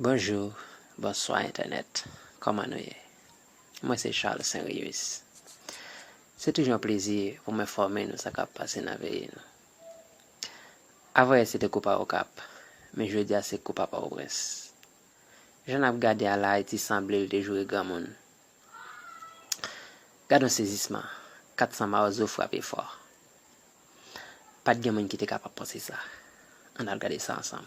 Bonjou, bonswa entènèt, kòman nou ye? Mwen se Charles Saint Rius. Se toujou yon plezi pou m enfòme nou sa k ap pase nan peyi nou. Avanyè se te koupa Okap, men jodi a se koupa Pòtoprens. Jan n ap gade a la Ayiti sanble l te joure granmoun. Gadon sezisman, 400 mawozo frape fò. Pat gen moun ki te kapab panse sa. Ann al gade sa ansanm.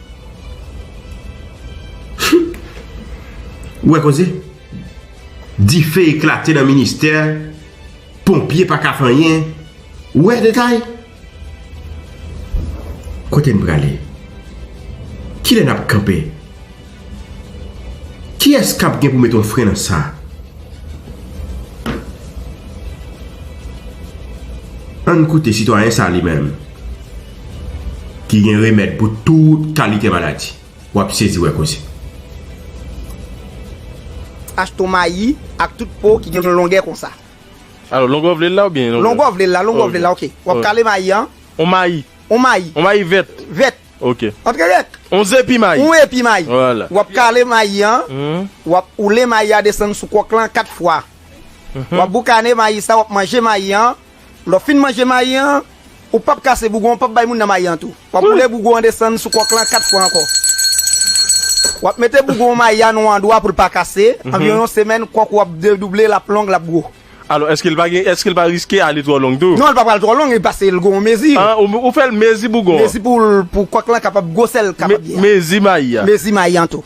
Humm ou wè koze dife eklate nan ministè ponpye pa ka fè anyen ou wè detay kote n prale kilè n ap kanpe kiyès k ap gen pou mete yon fren nan sa ann koute sitwayen sa li menm ki gen remèd pou tout kalite maladi. W ap sezi wè koze. Achte yon mayi ak tout po ki gen yon longè konsa. Alò, longè w vle l la oubyen longè. Longè w vle l la, longè w vle l la, ok. W ap kale mayi an. Yon mayi. Yon mayi. Yon mayi vèt. Vèt. Ok. Antre rèk. Yon zepi mayi. Yon epi mayi. Wala. W ap kale mayi an. W ap oule mayi a desann sou kòk lan 4 fwa. W ap boukane mayi sa, w ap manje mayi an. Lè w fin manje mayi an, ou pap kase bougon an, pap bay moun nan mayi an tou. Wap boule bougon an desann sou kòk lan 4 fwa ankò. Wap mete bougon mayi a nan yon andwa pou l pa kase, anviwon yon semèn kòk ou ap dedouble, lap long, lap gwo. Alò èske l pa gen, èske l pa riske ale twò long tou? Non, li pa pral twò long, pase l gen yon mezi. Ah, ou fè l mezi bougon an. Mezi pou l, pou kòk lan kapab gwo sèl kapab ye a. Mezi mayi a. Mezi mayi an tou.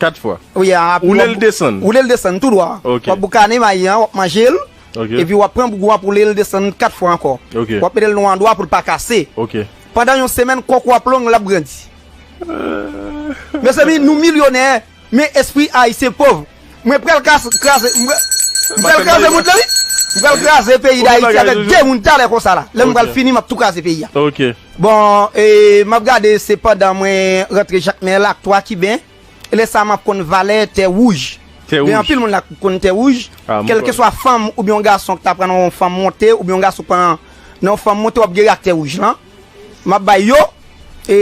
4 fwa. Wi a api woulel desann. Woulel desann tou dwa. Ok. Wap boukane mayi an wap manjel. Ok. Epi wap pran bougou an pou woulel desann 4 fwa ankò. Ok. Wap metel nou andwa poul pa kase. Ok. Pandan yon semèn kòk ou ap long lap grandi. Mezanmi nou milyonè men espri ayisyen pov. Mwen pral kase kraze mwen pral Mwen pral kraze mond lan wi. Mwen pral kraze peyi dayiti avèk 2 moun talè konsa la. Lèm pral fini map tou kraze peyi a. Ok. Bon e map gade se pandan mwen rantre jakmel ak 3 kiben e lè sa map konn valè tè wouj gen anpil moun la ki konn tè wouj kelkeswa fanm oubyen yon gason ki ta pran nan yon fanm monte oubyen yon gason ki pran nan yon fanm monte wap gere ak tè wouj lan map bay yo e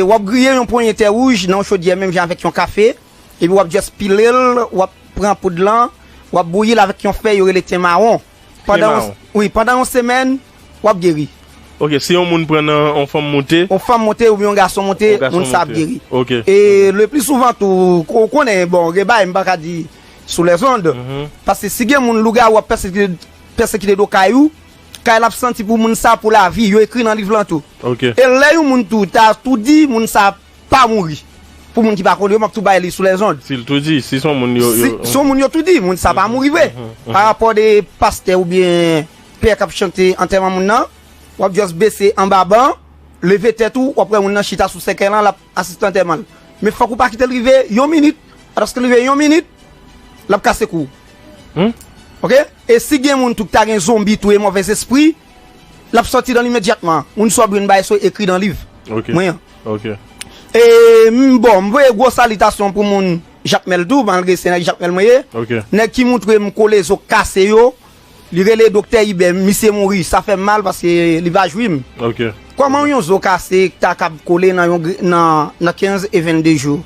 wap griye yon ponyen tè wouj nan yon chodyè menm jan avèk yon kafe epi wap just pilel wap pran poud lan wap bouyil avèk yon fèy yo rele ten mawon. Pandan yon semèn, w ap geri. Ok, si yon moun pran nan yon fanm monte. Yon fanm monte oubyen yon gason monte, moun sa ap geri. Ok. E le pli souvan tou, ou konnen, bon, gen bagay m pa ka di sou lèzond. Paske si gen moun lougawou ap pèsekite do kay ou, kay la ap santi pou moun sa pou lavi. Yo ekri nan liv lan tou. Ok. E lè yon moun tou ta tou di, moun sa ap. Pa mouri. Pou moun ki pa konn yo, m ap tou bay li sou lèzond. Si l tou di, si s on moun yo. Si s on moun yo tou di, moun sa pa mouri vre. Pa rapò de pastè oubyen pè k ap chante antèman moun nan, w ap just bese anba ban, leve tèt ou, w ap wè moun nan chita sou sèkèy lan, l ap asiste antèman l. Men fòk ou pa kite l rive yon minit. Paske l rive yon minit, l ap kase kou w. Ok? E si gen moun tou ki ta gen zonbi tou e move zespri. L ap sòti dan l imedyatman. Moun sò bri n bay swe ekri dan liv mwen an. E m bon, m voye gwo salitasyon pou moun Jakmèl tou, malgre se nèg Jakmèl mwen ye. Nèg ki montre m kole zo kase yo, li rele Doktè Ibè, misye mouri, sa fè m mal paske li pa jwi m. Kòman yon zo kase ta kab kole nan 15 e 22 jou?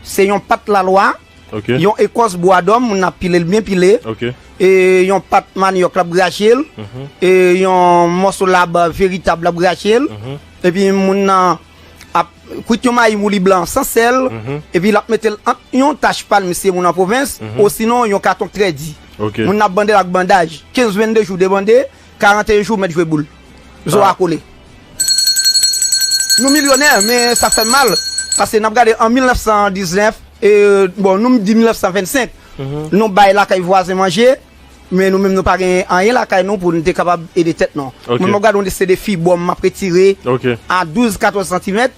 Se yon pat lalwa. Yon ekòs bwa dòm moun nan ap pile l byen pile, yon pat manyòk l ap grache l, yon mòso lab veritab l ap grache l, epi moun nan ap kwit yon mayi mouli blan san sèl, epi l ap mete l ant yon tach palm si se moun nan pwovens, osinon yon katon trè di. Moun nan ap bande l ak bandaj, 15, 22 jou debande. 41 jou mèt jwe boul. Zo a kole. Nou milyonè men sa fè mal paske n ap gade an 1919 e bon nou di 1925 nou bay lakay vwazen manje men nou menm nou pa gen anyen lakay nou pou nou te kapab ede tèt nou. Mwen m ap gade yon liste defi bon m ap retire a 12, 14 santimèt.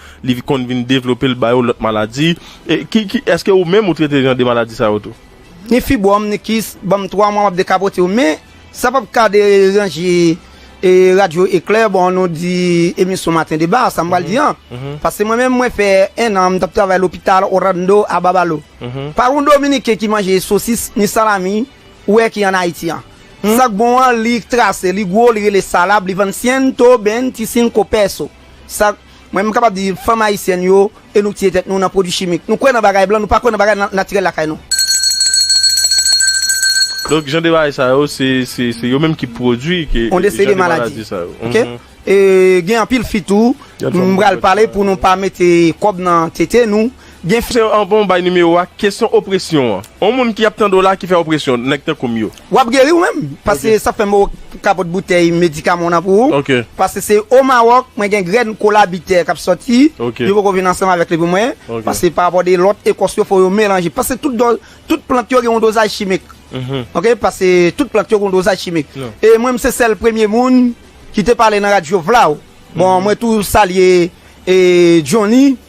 li konn vin devlope l ba yo lòt maladi. E ki ki eske ou menm ou trete jan de maladi sa yo tou? Ni fibwòm, ni kis, ban m 3 mwa m ap dekapote yo men sa p ap ka deranje e radyo eklè bon nou di emisyon maten deba sa m pral di an pase mwen menm mwen fè 1 an m t ap travay lopital Orlando a Babalo pa yon dominiken ki manje sosis ni salami ou wè ki an Ayiti an sa k bon an li trase li gwo li rele salab li vann siento ben ti sinko peso. Sa k, mwen m kapab di fanm ayisyèn yo e nou tiye tèt nou nan pwodui chimik. Nou kwè nan bagay blan, nou pa kwè nan bagay natirèl lakay nou. Donk jan de bagay sa yo, se, se, se yo menm ki pwodui ke On de seri de jan de maladi. maladi sa yo. Ok? E gen anpil fi tou, m pral pale pou nou pa mete kòb nan tete nou. Gen fè yo anvan ou bay nimewo a kesyon opresyon an on moun ki ap tande w la ki fè opresyon nèg tankou m yo. Wap geri ou menm pase sa fèm ou kapot boutèy medikaman w nan pou ou pase se o mawòk mwen gen grèn kola bitè kap sòti li poko vin ansanm avèk li pou mwen pase pa rapò de lòt ekòs yo fò yo melanje pase tout do tout plant yo gen yon dozaj chimik ok pase tout plant yo gen yon dozaj chimik e mwen m se sèl premye moun ki te pale nan radyo vla bon mwen tou salye e jhonny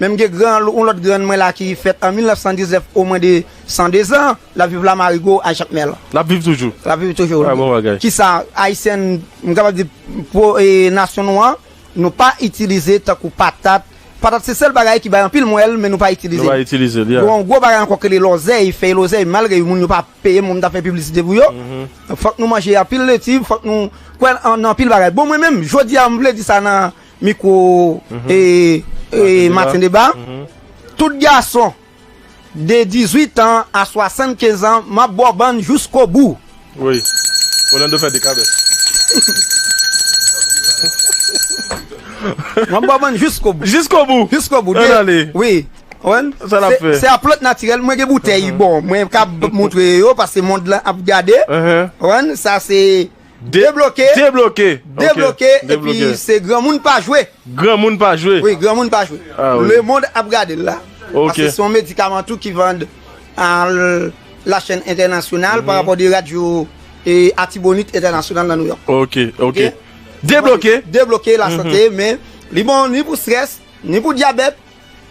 Men m gen gran yon lòt grann mwen la ki fèt an 1919 o mwen de 102 zan, l ap viv la Marigo a Jakmèl. L ap viv toujou? L ap viv toujou wi. A bon bagay. Kisa Ayisyen m kapab di pou nasyon nou an nou pa itilize tankou patat, patat se sèl bagay ki bay anpil mwèl men nou pa itilize l. Nou pa itilize l, ya. Gen yon gwo bagay ankò ki rele lòzèy, fèy lòzèy malgre moun yo pa peye m pou m ta fè piblisite pou yo, fòk nou manje anpil leti, fòk nou kwè nan anpil bagay. Bon mwen menm jodi a m vle di sa nan. Mikwo e maten deba. Tout gason de 18 an a 75 an map bòbòn jouskobou. Woy Orlando fè de kabès. Map bòbòn jouskobou. Jouskobou. Jouskobou. An ale. Wi. Wen. Sa lap fè. Se a plant natirèl mwen gen boutèy bon mwen kab montre yo paske mond lan ap gade. Wen sa se. Debloke Debloke Debloke epi se granmoun pa jwe Granmoun pa jwe Wi granmoun pa jwe Lemond ap gade l la Paske se yon medikaman tou ki vann a la chèn entènasyonal pa rapò de radyo atibonit entènasyonal nan Nouyòk Ok ok Debloke Debloke lasante men li bon ni pou strès ni pou dyabèt.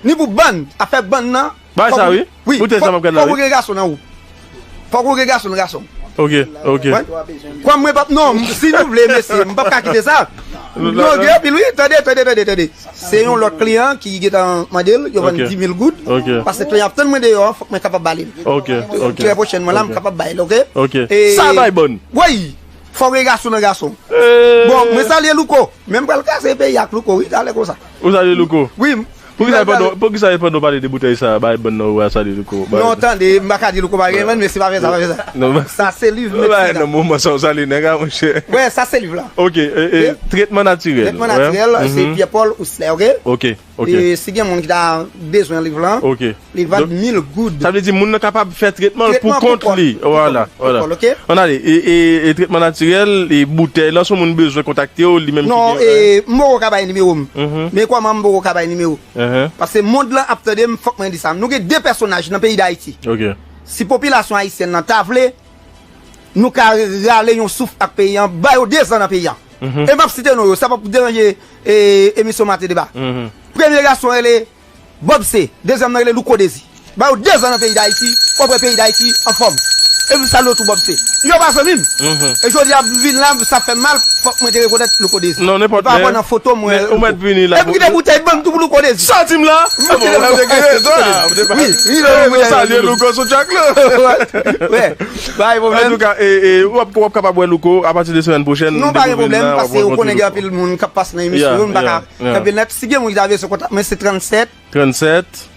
Ni pou bann, afè bann nan. Bay sa wi, pou tèt sa map gad la wi. Fòk ou gen gason nan ou. Fòk ou gen gason nan gason ou. Ok, ok. Kòm mwen pap non, si nou vle mesye, m pap ka kite sa. Non gen anpil wi, tande, tande, tande, tande. Se yon lòt kliyan ki gentan mande l, yo vann 10000 goud. Ok. Pase kliyan ap tann mwen deyò an, fòk mwen kapab ba li l. Ok, ok. Trè pwochènman la m kapab bay l, ok. Ok. Sa bay bòn. Woy! Fòk ou gen gason nan gason ou. Bon, mwen salye Louko. Men m pral kase peyi a ak Louko wi, talè konsa. Ou salye louko? Wi m pral salye. Poukisa pandan w pale de boutèy sa a bay bann nan ou a salye louko? Non tande m paka di louko pa gen bann mesye pa fè sa pa fè sa. Sa se liv medsin. Ou bay nan moman sa w salye nèg a monchè. Wè sa se liv la. Ok tretman natirèl. Tretman natirèl se Pierre Paul Ousler ok. Ok ok. Si gen moun ki ta bezwen liv lan. Ok. Li vant 1000 goud. Sa vle di moun nan kapab fè tretman l pou kont li. Wala. An ale. E tretman natirèl, e boutèy lan sou moun bezwen kontakte w li menm ki gen. Non, m poko ka bay nimewo m. Men kòman m poko ka bay nimewo. Pase mond lan ap tande m fòk mwen di sa. Nou gen 2 pèsonaj nan peyi Dayiti. Si popilasyon ayisyèn lan ta vle, nou ka rale yon souf ak peyi an, ba yo 2 zan nan peyi an. E m pap site non yo, sa pap deranje emisyon Mate Deba. Premye gason rele Bob se, dezyèm nan rele Louko Dezi. Ba yo 2 zan nan peyi Dayiti, wap wè peyi Dayiti anfòm. E m salye w tou Bob se. Yo pa zanmi m. E jodi a m vin la, sa fè m mal, fòk mwen te rekonèt Louko Dezi. E pa wè nan foto m wè Louko. E m kite boutèy ban m tou pou Louko Dezi. Sòti m la! Bon, ou te gen rezon a. Ou te pa. Wi, wi non m. Yo salye Louko sou track la. Wè, pa gen pwoblèm. Antouka, e wap kapab wè Louko apati de semèn pwochèn. Non pa gen pwoblèm, pase ou konnen gen anpil moun kap pase nan emisyon yo, m pa ka. Kenbe nèt, si gen moun ki ta vle sou kontak mwen se 37. 37.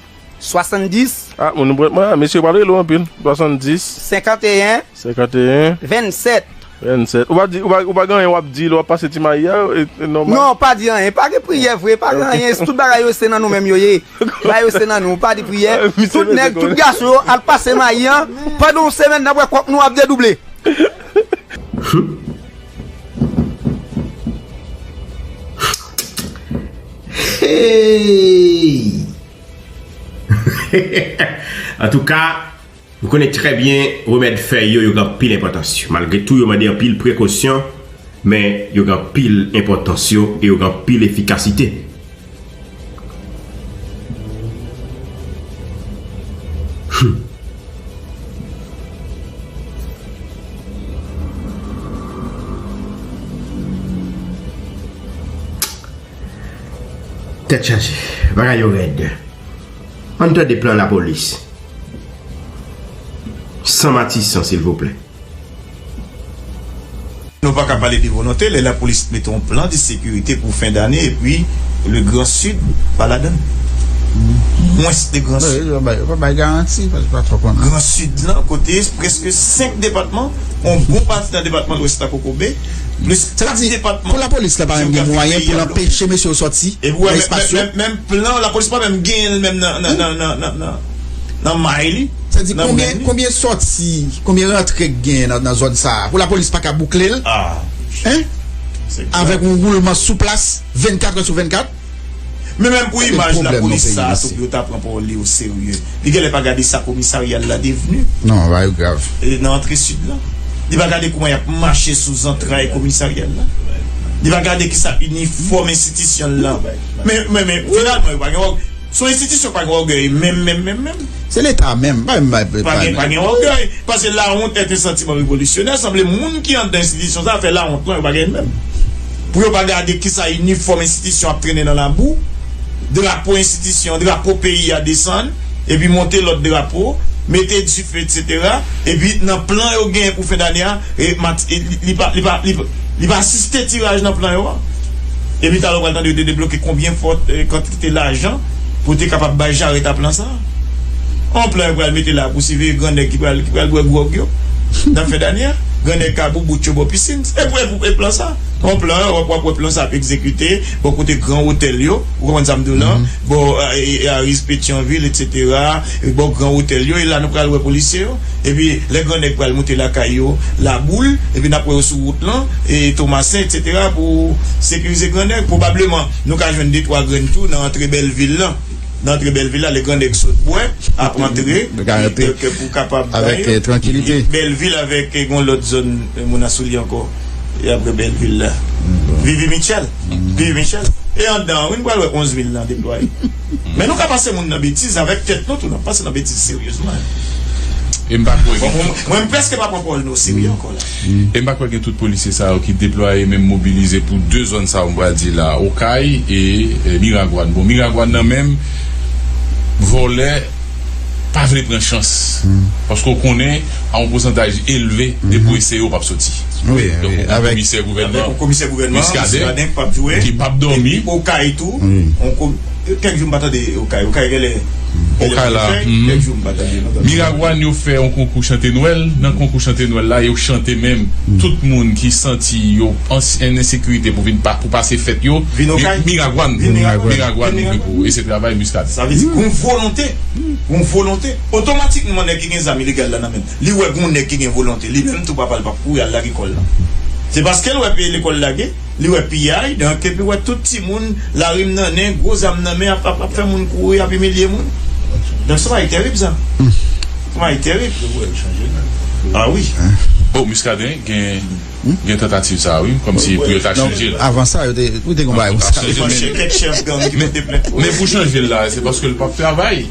70. Ah moun mwen mwen mesye pral rele ou anpil. 70. 51. 51. 27. 27. Ou pa di, ou pa gen anyen wap di lè wap pase ti mayi a, e nòmal? Non, pa di anyen. Pa gen priyè vre, pa gen anyen. Tout bagay yo se nan nou menm yo ye. Bagay yo se nan nou. Pa di priyè. Tout nèg, tout gason yo al pase mayi an. Pandan yon semèn n'ap wè kòk nou ap dedouble. Humm. An tou ka, nou konnen trè byen remèd fèy yo, yo gen anpil enpòtans yo. Malgre tou, yo mande anpil prekosyon, men yo gen anpil enpòtans yo e yo gen anpil efikasite. Tèt chaje, bagay yo rèd. An tè de plan la polis. San matisan silvouplè. Nou paka pale de volonte lè lapolis mete yon plan de sekirite pou fen dane epi le gran sid pa ladan l. Mwens de gran sid. Yo pa bay garanti. Gran sid lan kote preske 5 depatman, yon bon pati nan depatman lwès la kokobe, plis 4 depatman jeografik peyi a dlo. Sa vle di pou lapolis la pa menm gen mwayen pou l anpeche mesye yo sòti nan espas yo? Menm plan lapolis pa menm genyen l menm nan. nan may li, nan men li. Konbyen sòti, konbyen rantre k gen nan zòn sa a pou lapolis pa ka boukle l? Avèk yon woulman sou plas 24 è sou 24? Men menm pou imaj lapolis sa a tou pou yo ta pran pawòl li oserye. Li genlè pa gade sa komisarya l la devni. Non, bagay yo grav. Nan antre sid la. Li pa gade kouman y ap mache sou zantray komisarya l la. Li pa gade kisa inifòm enstitisyon l lan. Men, men, men, finalman yo pa gen wòg. Son institution pa gen orgueil menm menm menm menm. Se leta a menm. Pa gen pa gen orgueil. Pase la honte est un sentiment révolutionnaire sanble moun ki andan institution sa fè la honte non yo pa gen menm. Pou yo pa gade kisa uniform institution ap trennen nan labou, drapo institution, drapo peyi a desann epi monte lot drapo, mete dife etc. Epi nan plan yo genyen pou fen dane a li pa li pa li pa asiste tiraj nan plan yo a. Epi talo pral tande yo te debloke konbyen fò kantite. te lajan pou te kapab bay jarèt a plan sa a. On plan yo pral mete la pou siveye gran nèg ki pral ki pral bwè gwòg yo nan fen dane a, gran nèg ka boubout yo bò pisin. Se pou pou e plan sa a. On plan yo wap wap wè plan sa a ap egzekite bò kote gran otèl yo, ou konprann sa m di w lan, bò Aris, Petyonvil etsetera, bò gran otèl yo e la nou pral wè polisye yo. Epi lè gran nèg pral moute lakay yo, Laboul, epi n ap wè yo sou wout lan e Tomasen etsetera pou sekirize gran nèg pwobableman. Nou ka jwenn detwa grenn tou nan antre bèl vil lan. Nan antre bèl vil la, lè gran nèg sot bwè, ap antre, kè pou kapab bay. Bèl vil avèk gon lòt zòn moun a sou li ankò. E apre bèl vil la. Vivi Mitchell. Vivi Mitchell. E andan an wi, nou pral wè 11 mil lan deplwaye. Men nou ka pase moun nan betiz avèk tèt nou tou. N ap pase nan betiz seryezman. Mwen preske pa pran pawòl nou oserye ankò la. E m pa kwè gen tout polisye sa yo ki deplwaye menm mobilize pou 2 zòn sa yo m pral di la a, Okay e Miragwàn. Bon Miragwàn nan menm vòlè pa vle pran chans paske w konnen a yon pousantaj elve depi w eseye w p ap soti. Donk ou gen komisè gouvènman Miskaden ki p ap dòmi. Kèk jou m pa tande okay. Okay genlè genlè Okay la fè uhmm kèk jou m pa tande non tande okay. Miragwàn yo fè yon konkou chante nwèl, nan konkou chante nwèl la yo chante menm tout moun ki santi yo en ensekirite pou vin pou pase fèt yo Vin okay Miragwàn vin Miragwàn Miragwàn li vle pou e se travay Muscadin. Sa vle di gon volonte gon volonte otomatikman nèg ki gen zam ilegal la nan menl li wè gon nèg ki gen volonte li menm tou papal pap kouri al lage kòl la se paskel wè pye lekòl lage. Li wè piyay, donk, epi wè tout timoun, lari m nan nen, gwo zam nan men, ap fè moun kouri, ap imilye moun. Donk, se yon bagay terib sa. Se yon bagay terib. A wi. Bon, Muscadin gen tantativ sa a wi, kòmsi pou yo ta chanje l. Avan sa, yo te gen yon bagay konsa. Kèk chèf gang ki pote plent. Men pou chanje l la, se paske l pap travay.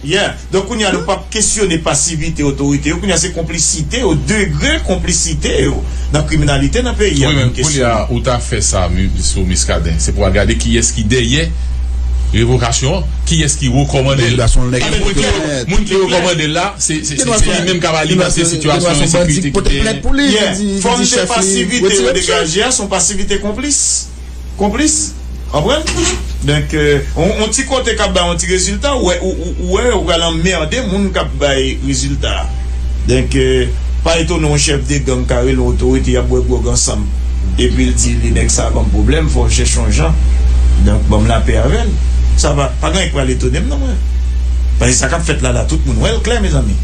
Yeah, donk kounya nou pap kesyone pasivite otorite yo, kounya se konplisite yo, degre konplisite yo nan kriminalite nan peyi a pou nou kesyone. Wi men kounya ou ta fè sa sou Miskaden, se pou al gade kiyès ki dèyè revokasyon an, kiyès ki rekòmande l. Paske moun ki moun ki rekòmande l la, se li menm kap alimante sitiyasyon ensekirite ki genyen. Yeah, fòm de pasivite yo degaje a, son pasivite konplis. Konplis? Anpren? Donk, yon ti kote k ap bay yon ti rezilta, ou wè, ou wè, ou pral anmède moun k ap bay rezilta a. Donk, pa etone yon chèf de gang ka rele yon otorite, y ap bwè gwòg ansanm, epi l di li, Nèg sa a ban m pwoblèm, fò m chèche yon jan, donk, ban m lapè avè l. Sa pa, pa gen anyen ki pral etone m non, mwen. Paske sa k ap fèt la la, tout moun wè l klè, mezanmi.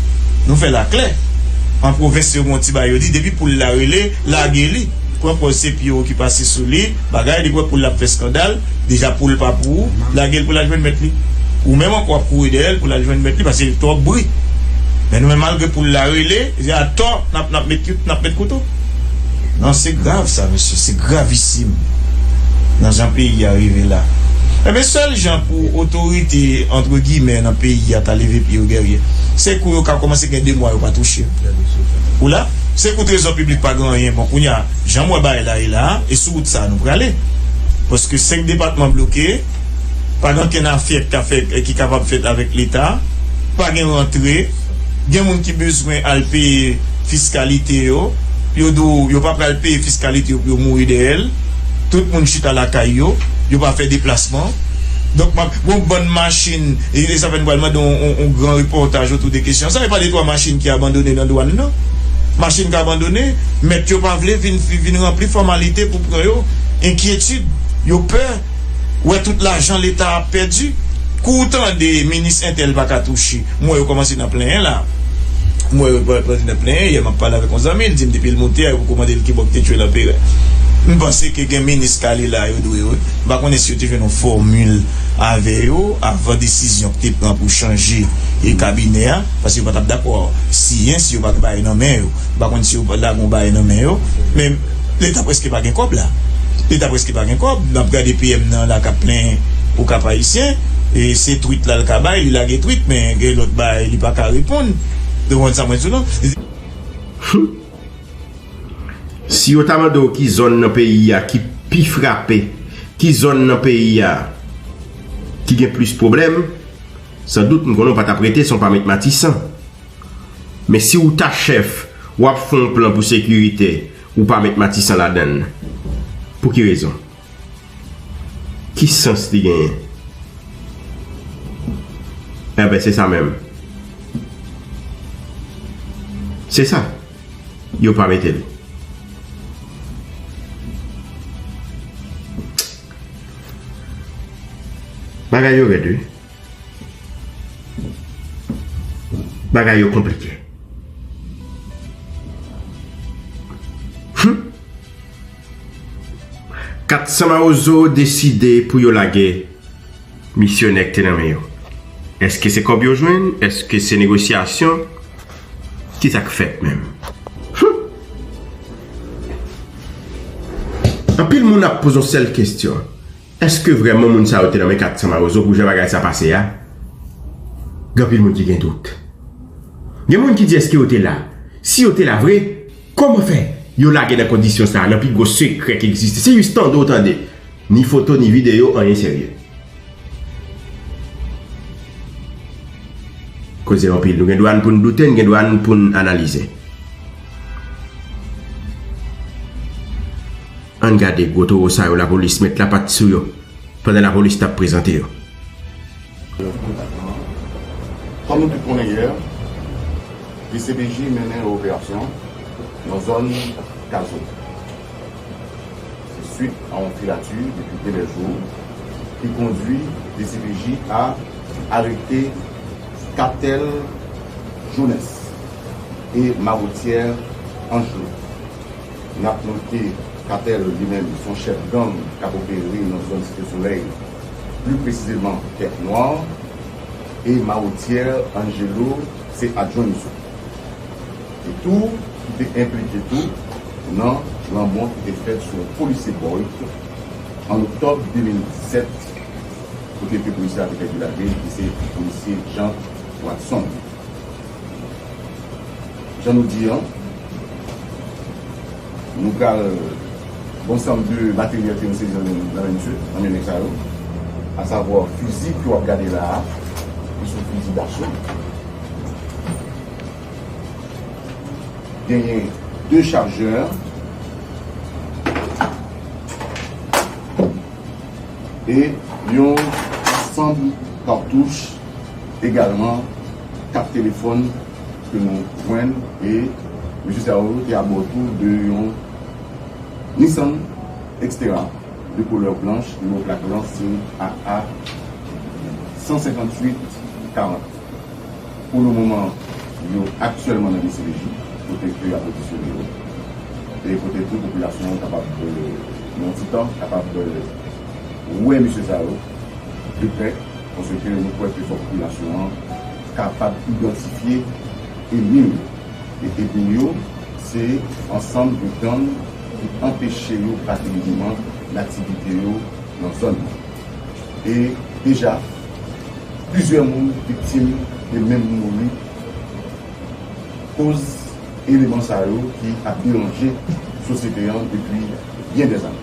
Nou fè l aklè. An pwovens, yo gen yon ti bagay yo di, Depi poul la rele, lage li. Pran pòz se Pierrot ki pase sou li, bagay li kwè poul la ap fè skandal, deja poul pa pou ou, lage l pou l al jwenn mèt li. Ou menm ankò w ap kouri dèyè l pou l al jwenn mèt li pase l twòp bri. Men nou menm malgre poul la rele, se atò n ap n ap met n ap met kouto. Non se grav sa mesye, se gravisim nan jan peyi a rive la. Enben sèl jan pou otorite antre gimè nan peyi a ta leve pye yo dèryè, se kou yo ka kòmanse gen 2 mwa yo pa touche. Ou la? Se pou trezò piblik pa gen anyen bon kounya janm wè bagay la ye la a e sou wout sa a nou prale paske 5 depatman bloke pa gen ankenn afè k ka fèt ki kapab fèt avèk leta pa gen rantre gen moun ki bezwen al peye fiskalite yo yo di w yo pa pral peye fiskalite yo pou yo mouri dèyè l tout moun chita lakay yo yo pa fè deplasman donk m ap gen yon bann machin. Elisabeth pral mande yon gran repòtaj otou de kesyon sa. Yo pale twa machin ki abandone nan dwàn nan. Machin k abandone, mèt yo pa vle vin ranpli fòmalite pou pran yo. Enkyetid, yo pè wè tout lajan leta ap pèdi. Kou w tande minis entèl pa ka touche, m wè yo kòmanse nan plenyen la. M wè yo kòmanse nan plenyen. Yè m ap pale avèk yon zanmi, l di m depi l monte a yo poko mande l kibò k te tchwe Lanperè. M panse ke gen minis kale la yo dwe wè. M pa konnen si yo te jwenn yon fòmil. avè yo avan desizyon ki te pran pou chanje kabinè a, paske yo pa t ap dakò siyen si yo pa gen bagay nan men yo. Yo pa konn si yo lage yon bagay nan men yo. Men, Leta prèske pa gen kòb la. Leta prèske pa gen kòb. N ap gade PM nan la k ap plen pou Kap Ayisyen. Se twit la l ka bay, li lage twit, men gen lòt bagay li pa ka reponn. Ou konprann sa mwen di w lan? Humm! Si yo ta mande w ki zòn nan peyi a ki pi frape, ki zòn nan peyi a ki gen plis pwoblèm, san dout m konnen w pa t ap rete san w pa met Matisan. Men si w ta chèf, w ap fè yon plan pou sekirite, ou pa met Matisan ladan l. Pou ki rezon? Ki sans li genyen? Enben, se sa menm. Se sa. Yo pa mete l. Bagay yo rèd wi. Bagay yo konplike. Hum! 400 mawozo deside pou yo lage misyonè ki te nan men yo. Eske se kòb yo jwenn? Eske se negosyasyon? Ki sa k fèt menm? Humm! Anpil moun ap poze yon sèl kesyon, eske vrèman moun sa yo te nan men 400 mawozo pou jan bagay sa pase a? Gen anpil moun ki gen dout. Gen moun ki di eske yo te la? Si yo te la vre? Kòman fè yo lage nan kondisyon sa nan pi gwo sekrè ki egziste se jis tande w tande ni foto ni videyo anyen serye. Koze anpil nou gen dwa n pou n doute n gen dwa n pou n analize. Ann gade gwo towo sa yo lapolis met lapat sou yo pandan lapolis tap prezante yo. Kòm nou tout konnen yè, dcpj mennen yon operasyon nan zòn Kazo. Se swit a yon filati depi plizyè jou ki kondwi dcpj a arete Katèl Jones e Marotyè Angelo. N ap note Katèl li menm se yon chèf gang k ap opere nan zòn Site Solèy. pli presizeman Tèt Nwa, e Maotier Angelo se adjwen misye te tou ki te enplike tou nan lanmò ki te fèt sou yon polisye Boyd an oktòb 2017 kote ke polisye a te pèdi lavi li ki se polisye Jean Watson. Jan nou di an, nou pral gen yon sanm de materyèl ke yo sezi nan men misye, nan men nèg sa yo, a savwa fizi ke w ap gade la a, ki son fizi daso. Genyen 2 chajè. E yon sanm kartouch. Egalman, kat telefòn ke nou jwenn e mesye sa yo te abò tou de yon Nissan Xterra de koulè blanch, nimewo plak lan se AA 158 40. Pou le moman, yo aktyèlman nan dcpj kote ke yap odisyone yo e kote tou popilasyon kapab, nan yon ti tan, kapab. wè mesye sa yo de prè paske nou kwè ke fòk popilasyon an kapab idantifye enmi yo e enmi yo se ansanm de gang ki anpeche yo brake mouvman laktivite yo nan zòn nan e deja plizyè moun viktim e menm mouri koz eleman sa yo ki ap deranje sosyete an depi byen dèzane.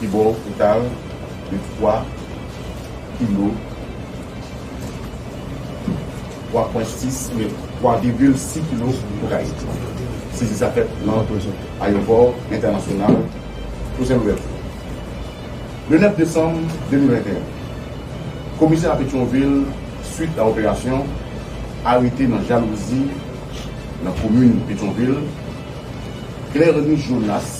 Pi bon ou ta al de fwa kilo twa pwen sis oubyen twa vigil si kilo pou ka ye. Sezi sa fèt nan ayewopò entènasyonal José Louverture le 9 desanm 2021. Komisè a Petyonvil swit a operasyon arete nan jalouzi nan komin Petyonvil Clerny Jonas.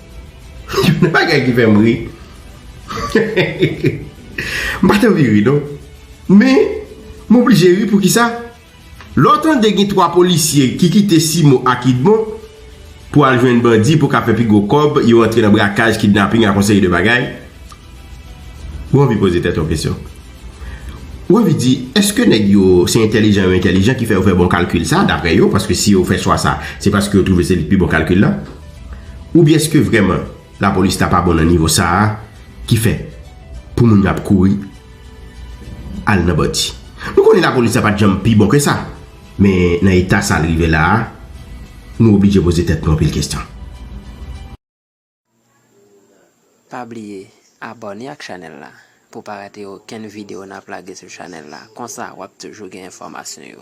Yon bagay ki fèm ri M pat anvi ri non Men m oblije ri poukisa Lè w tande gen 3 polisye ki kite Simo ak Idmon pou al jwenn bandi pou ka fè pi gwo kòb yo antre nan brakaj, kidnaping ak yon seri de bagay ou anvi poze tèt w kesyon. Revi di, Èske nèg yo se entèlijan yo entèlijan ki fè yo fè bon kalkil sa a, dapre yo, paske si yo fè chwa sa a, se paske yo twouve se li k pi bon kalkil la? Oubyen èske vrèman lapolis la pa bon nan nivo sa a ki fè pou moun yo ap kouri al nan bandi? Nou konnen lapolis la pa t janm pi bon ke sa, men nan eta sa l rive la a, nou oblije poze tèt nou anpil kesyon. Pa bliye abòne ak chanèl la pou pa rate okenn video nap lage sou chanèl la konsa wap toujou gen enfòmasyon yo.